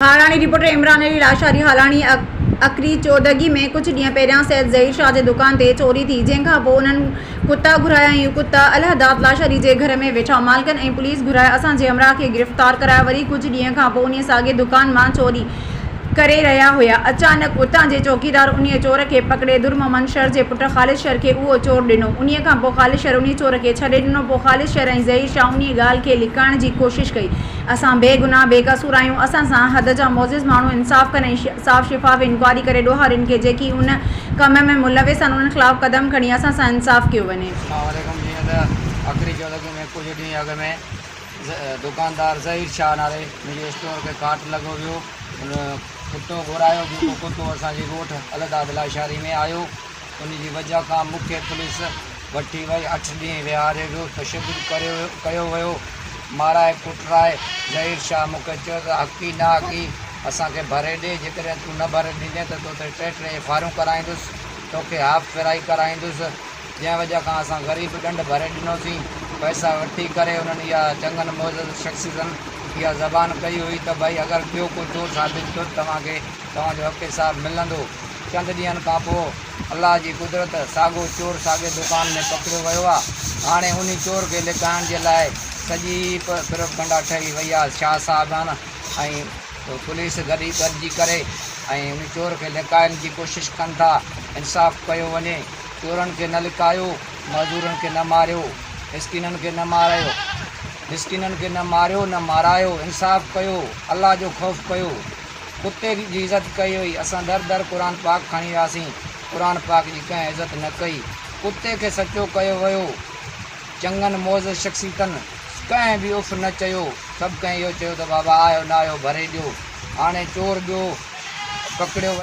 Harani, reporter, Imran Ali Lashari, Harani, اکري چودڳي ۾ ڪجهه ڏينهن پهريان سيد ظهير شاهه جي دڪان تي چوري ٿي، جنهن کان پوء انهن ڪتا گهرايا ۽ اهي ڪتا الهداد لاشاري جي گهر ۾ ويٺا، مالڪن ۽ پوليس گهرائي اسان جي همراهه کي گرفتار ڪرايو، وري ڪجهه ڏينهن کان پوء انهي ساڳي دڪان مان چوري ڪري رهيا هيا، اچانڪ اتان جي چوڪيدار انهي چور کي پڪڙي در محمد شر جي پٽ خالد شر کي اهو چور ڏنو، انهي کان پوء خالد شر انهي چور کي ڇڏي ڏنو، پوء خالد شر ۽ ظهير شاهه انهي ڳالهه کي لڪائڻ جي ڪوشش ڪئي، اسان بي گناهه بي قصور آهيون اسان سان حد جا معزز ماڻهو انصاف ڪن ۽ صاف شفاف انڪوائري ڪري ڏوهارين کي جيڪي ان ڪم ۾ ملوث آهن انهن خلاف قدم کڻي اسان سان انصاف ڪيو وڃي. اسلام عليڪم جيئن ته اکري چيو ته ۾ ڪجهه ڏينهن اڳ ۾ دڪاندار ظهير شاهه نالي منهنجي اسٽور کي ڪاٽ لڳو ويو ان ڪتو گهرايو جيڪو ڪتو اسان جي ڳوٺ الهداد لاشاري ۾ آيو ان جي وجهه کان مون کي پوليس وٺي وئي. اٺ ڏينهن ويهاري ويو، تشدد ڪيو ويو، مارائي ڪٽرائي. ظهير شاهه مون کي چيو ته حقي نا حقي اسان کي ڀري ڏي، جيڪڏهن تون نه ڀري ڏيندين ته تو تي ٽي ٽي ايف آء آرون ڪرائيندس، تو کي هاف ڦيرائي ڪرائيندس. جنهن وجهه کان اسان غريب ڏنڊ ڀري ڏنوسين. پئسا وٺي ڪري انهن اها چڱن معزز شخصيتن اها زبان ڪئي هئي ته ڀائي اگر ٻيو ڪو چور ثابت ٿيو ته توهان کي توهان جو حق حساب ملندو. چند ڏينهن کان پوء الله جي قدرت ساڳو چور ساڳي دڪان ۾ پڪڙيو ويو آ. هاڻي انهي چور کي لڪائڻ جي لاء سڄي پروپگنڊا ٺهي وئي آ. شاهه صاحبان ۽ پوليس گڏي گڏجي ڪري ۽ انهي چور کي لڪائڻ جي ڪوشش ڪن ٿا. انصاف ڪيو وڃي. چورن کي نه لڪايو. معذورن کي نه ماريو. مسڪينن کي نه مارايو. مسڪينن کي نه ماريو نه مارايو. انصاف ڪيو. الله جو خوف ڪيو. ڪتي جي عزت ڪئي هئي، اسان در در قرآن پاڪ کڻي وياسين، قرآن پاڪ جي ڪنهن عزت نه ڪئي، ڪتي کي سچو ڪيو ويو، چڱن معزز شخصيتن ڪنهن به اف نه چيو، سڀ ڪنهن اهو چيو ته بابا آيو نه آيو ڀري ڏيو، هاڻي چور ٻيو پڪڙيو ويو.